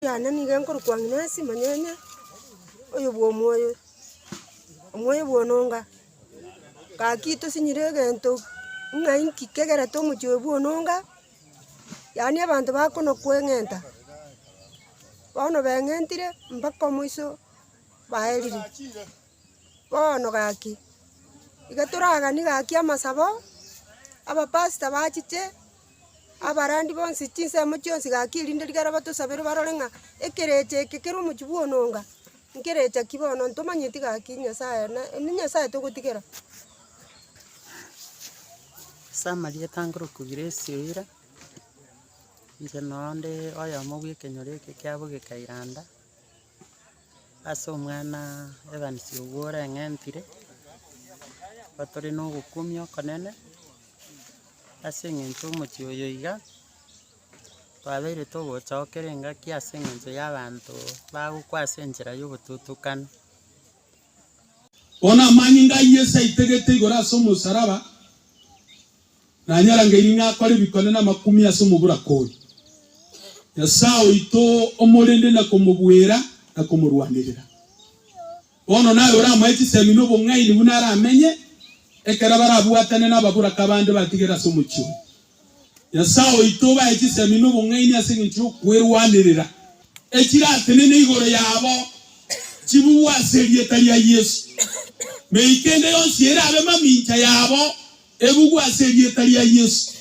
yane nigo enkorokwa Agnesi Monyenya, oyo bw'omoyo, omoyo bw'ononga, gaki tosinyire egento ng'a inki kegerete omochi oyo bw'ononga, yaani abanto bakono kweng'enta, bono beng'entire mpaka omoiso baerire. Bono gaki, iga toraganie gaki amasabo, abapastor bachiche, abarandi bonsi chinsemo chionsi gaki erinde rigaro batosabere barore ng'a ekerecha eke kere omochie bwa ononga, nkerecha ki bono ntomanyeti gaki Nyasaye na ene Nyasaye togotigera. Ase amarieta nkorokwa Grace Oira, inche noo nde oyomo bw'ekenyoro eke kiabogeka Iranda. Ase omwana Evans oyio oreng'entire, nigo tore na ogokumia okonene, ase eng'encho omochie oyo iga, twabeire togochokera engaki ase eng'encho ya abanto bagokwa ase enchera ya obotutukana. Bono amanyinga a Yeso aitegete igoro ase omosaraba. Nanyarangeiri ng'a akore bikone namakumi ase omoburaka oyo, Nyasae oito omorende na komobuera na komorwanerera. Bono naye oramoe chisemi na obong'aini buna aramenye ekero barabwatane nababuraka bande batigere ase omochie oye. Nyasae oito obae chisemi na obong'aini ase engencho y'okwerwanerera, echiratenene igoro yabo chibugwe ase erieta ria Yeso, mei kende yonsi erabe mamincha yabo Ebugu ase erieta ria Yesu.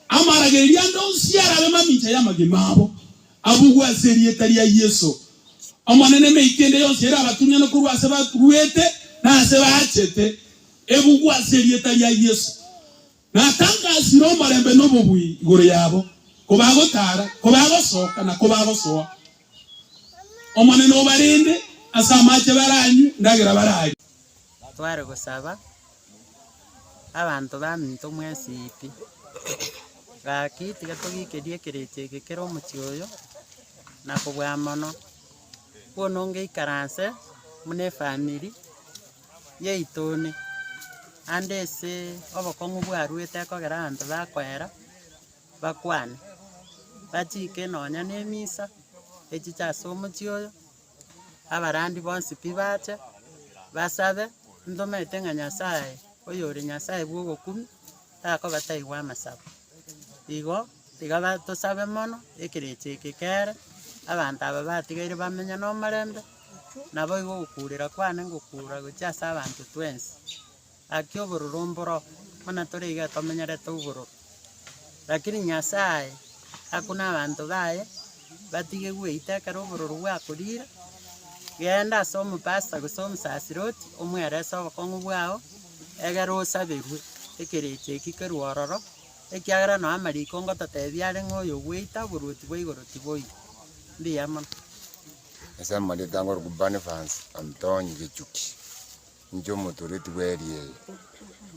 Amaragereria ande onsi arabe mamincha y'amagima abo, abugwe ase erieta ria Yesu. Omonene emeiti ende yonsi ere abatunyane korwa ase baruete na ase baachete, ebugwe ase erieta ria Yesu. Natangasire omorembe na obobui igoro yabo, kobagotaara, kobagosoka, na kobagosoa, Omonene obarende ase amache baranywe ndagera bararye. Tware gosaba abanto baminto mwesiti. Gaki tiga togikerie ekerecha eke kere omochie oyo, na kobua mono. Bono ngeikaranse buna efamiri yaito one, ande ase obokong'u bwarwete ekogera abanto bakoera, bakwane, bachiike nonya nemisa echiche ase omochie oyo, abarandi bonsi pi bache, basabe, ntomanyete ng'a Nyasaye oyore Nyasaye bw'obokumia, takobataigwa amasabo. Igo tiga ba- tosabe mono, ekerecha eke kere, abanto aba batigaire bamenye na omorembe, naboigo ogokuurera kwane ngokuura gochia ase abanto twensi. Gaki obororo mboro, buna tore iga tomenyerete obororo. Lakini Nyasae aku nabanto baye, batige gweita ekero obororo bwakorire, genda ase omopasta gose omosaseri oti, omwerese obokong'u bwao, egere osaberwe ekerecha eki kerwe ororo, ekiagera nao amariko ngototebia are ng'a oyo ogweita oboruoti bwa igoro tiboigo. Mbuya mono. Ase amarieta angorokwa Barnabas, Antoni, Gechuki. inche omotoreti bw'eeri eye.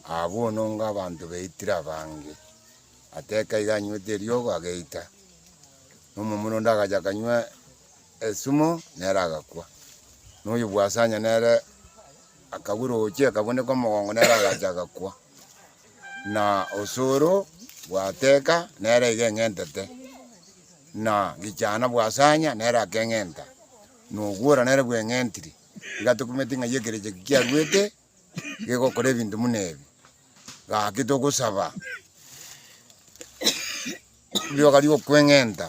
Aa bono onga abanto baitire abange. Ateka iga anywete eriogo ageita, na omomura onde agacha akanywa esumo nere agakwa. Na oyo bwasanya nere akagwa roche akabuneka omogongo nere agacha agakwa. Na osoro bwateka nere iga eng'entete, na gichana bwasanya nere akeng'enta, na ogwora nere bweng'entiri. Iga tokumete ng'ai ekerecha eke kiaruete gegokora ebinto buna ebi. Gaki togosaba rioka riokweng'enta,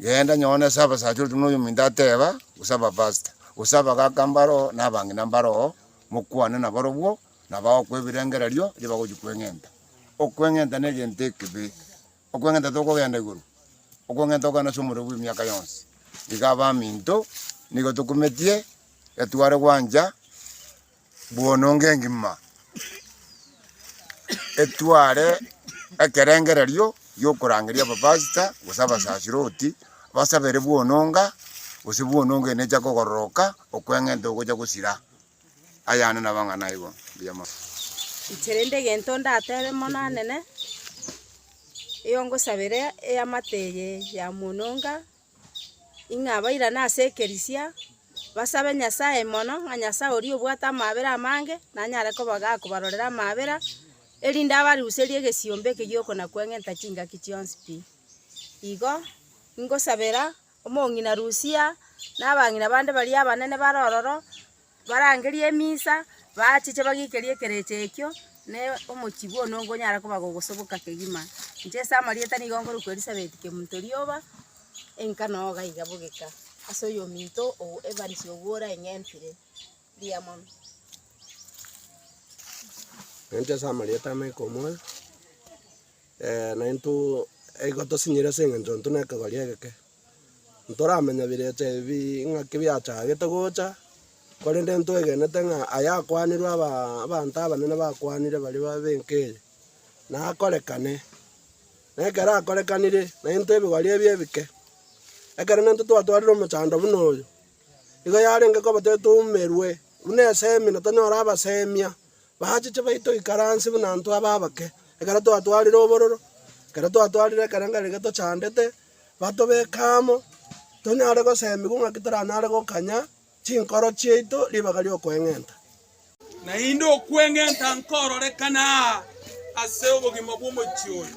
genda nyone ase abasacha orokio buna oyo ominto ateba, gose abapastor, gose abagaka mbaro oo, na abang'ina mbaro oo, mokwane nabarobwo, nabo bagokwa ebirengererio, erio bagochia kweng'enta. Okweng'enta na egento ekebe. Okweng'enta tokogenda igoro, okweng'enta okogenda ase omorero bw'emiaka yonsi. Iga abaminto nigo tokumetie getware gwancha bw'ononga engima, etware ekerengererio gi'okorangeria abapastor gose abasasiroti, basabere bw'ononga, gose bw'ononga ere necha kogororoka, okweng'enta ogocha gosira Ayande nabo ang'ana aigo. Mbuya mono. Inche rende egento ndatebe Omonanene, eyongosabera eamate eye ya mwonoga, ing'a abairane ase ekerisia, basabe Nyasaye mono, ng'a Nyasaye oria obwate amabera amange, nanyare koba gakobarorera amabera, erinde abaruserie egesiombe eke giokona kweng'enta chingaki chionsi pi. Igo, ingosabera. Omong'ina Lusia, na abang'ina bande baria abanene bare ororo, barangerie emisa, baachiche bagiikerie ekerecha ekio, na omochie bw'onwe nkonyara koba gogosoboka kegima. Inche ase amarieta nigo nkorwa kw'Elisabeti Kemunto Rioba, enka na oga iga bogeka, ase oyominto o Evans Ogwora eng'entire. Mbuya mono. Inche ase amarieta ama ikomoa. Ee, naintwe nigo tosinyire ase engencho intwe nekegori egeke. Ntoramenya birecha ebi ng'aki biachagete gocha, korende ntwegenete ng'a ayakwanirwe aba abanto abanene bakwanire baria ba benka eye, nakorekane. Nekero akorekanire, naintwe ebigori ebi ebike, ekero naintwe twatwarire omochando buna oyo, igo yarenge koba tari toumerwe buna esemi na tonyore abasemia, Baachiche baito ikaransi buna intwe abe abake, ekero twatwarire obororo, ekero twatwarire ekerengerio eke tochandete, batobeke amo, tonyare goseemigwa ng'aki toranyare gokanya chinkoro chiaito ribaga ri'okweng'enta. Naende okweng'enta nkororekane aa ase obogima bw'omochie oyo.